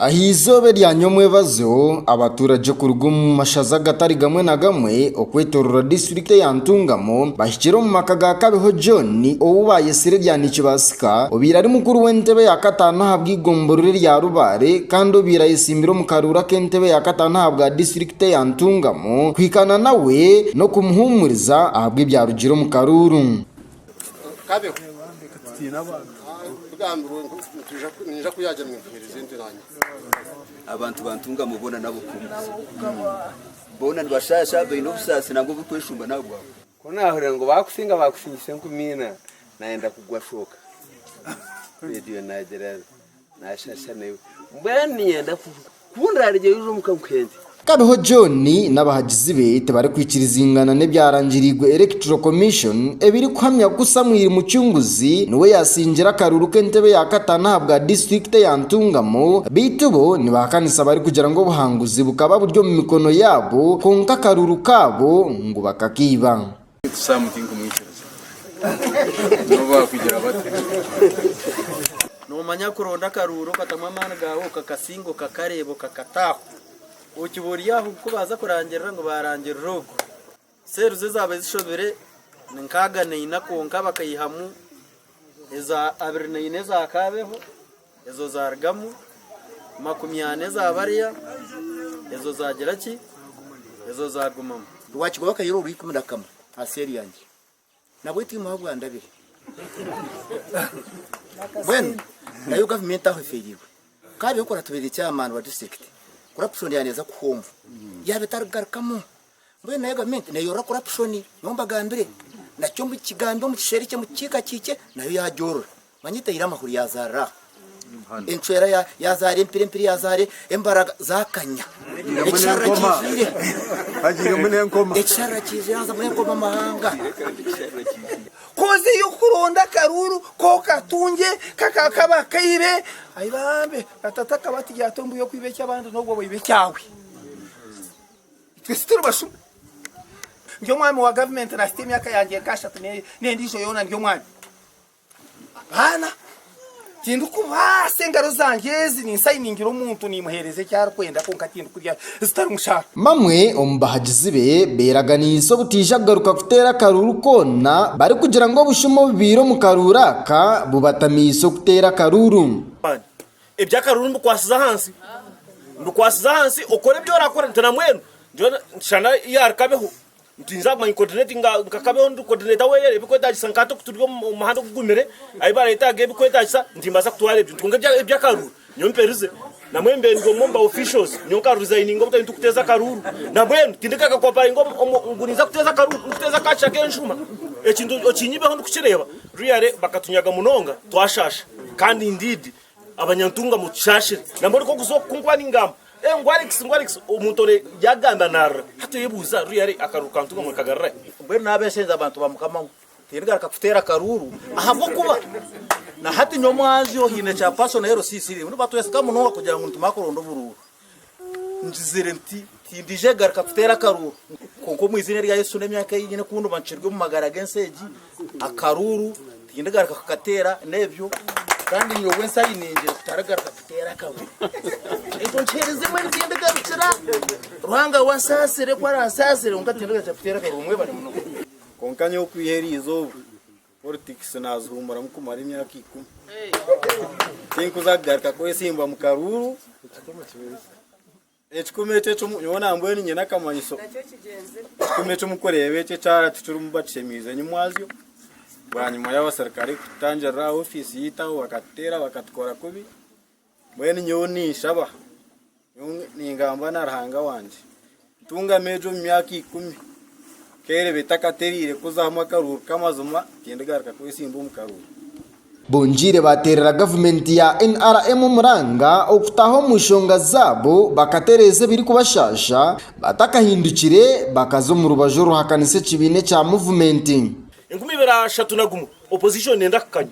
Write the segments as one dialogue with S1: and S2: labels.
S1: Aha eizooba erya nyomwebazo, abaturagye kuruga omu mashaza agatari gamwe na gamwe okwetooroora disiturikiti eya Ntungamo bahikire omu maka ga Kabeho John ou baayetsire erya Nikibaasika obaire ari mukuru w'entebe ya kataano ahabw'eigomborora erya Rubare kandi obaire ayetsimbire omu karuuru ak'entebe ya kataano ahabwa disiturikiti teyantungamu kuhikaana nawe n'okumuhuumuriza ahabw'ebyarugire omu karuuru. Abantu bantungamu boona n'ab'okuhumuza. Boona nibashaasha, baine obusaasi nangwa oburikweshumba n'aha bwabo. Ku naahurira ngu baakusinga baakusingisa enkumi ina, naayenda kugwa shooka. Reediyo naagira. Naashasha naiwe. Mbwenu niinyenda ku ndaaregyeyo oze omuka nkuhende. Kabeho John n'abahagizi be tibarikwikirizingana n'ebyarangiriirwe Electoral Commission ebirikuhamya ku Samwiri Mucunguzi niwe yaasingiire akaruru k'entebe ya kataano ahabwa disiturikiti eya Ntungamo beitu bo nibahakanisa barikugira ngu obuhanguzi bukaba buri omu mikono yaabo kwonka akaruru kaabo ngu bakakaiba. Sam tinkumwikiriza nabo bakugira bata. Nomanya kuronda akaruuru okatamu amaani gaawe okakasinga okakareeba okakata aho okiba ori aho ku baaza kurangirira ngu baarangirira ogu seeri zo ezaabaire zishobire ni nkaaga na ina kwonka bakaihamu eza abiri na ina eza kaabeho. Ezo zaarugamu, makumi ana eza bariya, ezo zaagira ki? Ezo zaagumamu. Rwakigaba akayeero orw'ikumi na kamwe aha seeri yangye, nabwo etiimu ahabwa ndabire. Mbwenu nayo gavumenti aho efeereirwe. Kaabeho ku oratubeerera ekyamaani owa disiturikiti, ku oraakushondera neeza kuhomba. Yaaba etarigarukamu, Mbwenu nayo gavumenti neyorora corruption nyowe mbagambire nakyo mbu kigambe omu kisheeri kye omu kiika kiikye nayo yagyorora manya etaire amahuri yazaarira aha encwera ya- yazaara empire empire yazaara embaraga zakanya ekisharara kijwire Hagirimu n'enkoma. ekisharara kijwire hazamu enkoma amahanga koza eyokuronda akaruuru kokatungye kaka kaba kaibe ayi bambe na tata akaba ati gyata ombuya okwiba ekyabandi nobwo waiba ekyawe Itwe tituri bashuma. Ndi omwami wa gavumenti naahitsya emyaka yangye nka ashatu n'endiijo yoona ndi omwami. Abaana tindikubaasa engaro zangye ezi ninsayiningira omuntu nimuheereza eki arikwenda kwonka tindikurya zitari mushaara. Bamwe omu bahagizi be beeraganiise obutaija kugaruka kuteera akaruuru koona barikugira ngu obushuma obubaire omu karuuru aka bubatamiise okuteera akaruuru. Eby'akaruru mbikwatsize ahansi. Mbikwatsize ahansi okore ebi orakora nti na mbwenu shana yaari kabeho nitwija kumanya kukodinetinga nka kabeho ndi kodineeta weeye ebikwetagisa nka hati okuturi omu muhanda ogugumire ahi baretaaga ebikwetagisa nimbaasa kutwara ebintu kwonka eby'akaruru nyowe mperize na mbwenu mbe ndi omwe omu ba officials nyowe nka rizayininga obutari nitukuteeza akaruru na mbwenu tindi nka kakoparinga ngu ninza kuteeza akaruru ninkuteeza ka kishaka enshuma ekintu okinyibeho ndikukireeba Ruyare bakatunyaga munonga twashaasha kandi indeed abanyantunga mutushaashire nambwo ori nk'okuza oku kunkuba ningamba ngu Alex ngu Alex omuntu ori yagamba naarira hati oyebuuza Ruyare akaruru ka ntunga murikagarura hi? Mbwenu nabeshenza abantu ba Mukama ngu tindigaruka kuteera karuuru ahabw'okuba na hati nyowe Mwanzyo hiine kya personal LCC rimwe nibatwesika munonga kugira ngu nitumara kuronda oburuuru. Ngizire nti, Tindiija kugaruka kuteera akaruuru. Kwonka omu iziina erya Yesu n'emyaka ei nyine ku ndiba nkirwe omu magara g'ensi egi, akaruuru tindigaruka kukateera. N'ebyo. Kandi nyowe nsai ningire kutarigaruka kuteera akaruuru. Ekyo nkiheerezeemu eri tindigarukira. Ruhanga we ansaasire ku aransaasire, kwonka tindigaruka kuteera akaruuru. Mwebare munonga. Kwonka nyowe kwiha eriizooba. Politics nazihuumuramu kumara emyaka ikumi. Tinkuza kugaruka kwesiimba mu karuuru. Ekikumi ekyo ekyo nyowe nambwenu nyine akamanyiso. Ekikumi ekyo mukureeba ekyo ekyara tikirimu batushemeise enyimwazyo. Bwanyima y'abaserukare kututangirira aha office yaitu aho bakatuteera bakatukora kubi. Mbwenu nyowe ninshaba, nyowe ningamba na Ruhanga wangye, ntungami egyo omu myaka ikumi, nkeereba etakatereire kuzamu akaruuru k'amazima, tindigaruka kwetsimba omu karuuru. Bongiire baateerera gavumenti ya NRM omuranga okutaaha omu nshonga zaabo bakatereeza ebirikubashaasha, batakahindukire bakaza omu rubaju oruhakanisa ekibiina ekya Muvumenti. Enkumi ibiri ashatu na gumwe, Opposition neenda kukanya.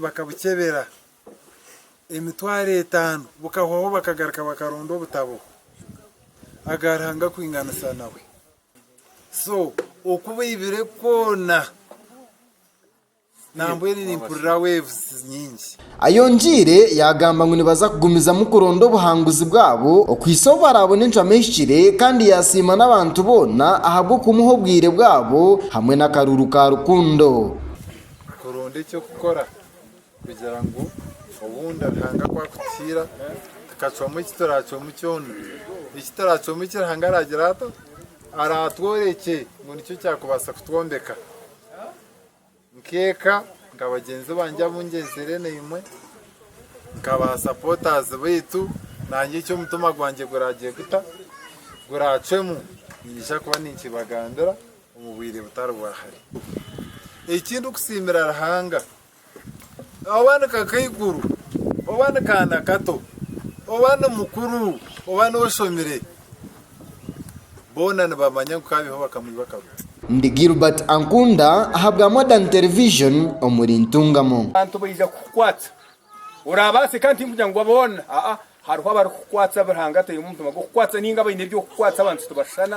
S1: bakabukyebera emitwaro etaano bukahwaho bakagaruka bakaronda obutabo aga Ruhanga kwinganisa nawe so oku baibire koona nambwenu nimpurira waves nyingi. Ayongiire yagamba ngu nibaza kugumizamu kuronda obuhanguzi bwabo okuhitsya obu barabone encwamo ehikire kandi yasiima n'abantu boona ahabw'okumuha obwire bwabo hamwe n'akaruru ka rukundo. Kuronda eky'okukora kugira ngu obundi Ruhanga ku arikutuhiira tukacwamu eki turaacwamu kyona, eki turaacwamu eki Ruhanga araagira ata? Araatworekye ngu nikyo kyakubaasa kutwombeka nk'eka, nka bagyenzi bangye abu ngyenzire naimwe, nka baasapotaazi baitu, naanye eki omutima gwangye guraagye guta? Guraacwemu, niinyija kuba ninkibagambira. omu bwire butari bwa hare. Eki ndikusiimira Ruhanga, oba ni kakaikuru, oba ni kaana kato, oba ni mukuru, oba n'oshomire, boona nibamanya ngu kaabiho bakamwiba akaguta. Ndi Gilbert Ankunda ahabwa Modern Television omuri Ntungamo. Abantu baija kukukwata Oraabaase ka tinkugira ngu boona, aa, hariho abarikukukwatsa abu Ruhanga ataimu omutima gw'okukukwatsa nainga abaine eby'okukukwatsa, abantu tibashushana.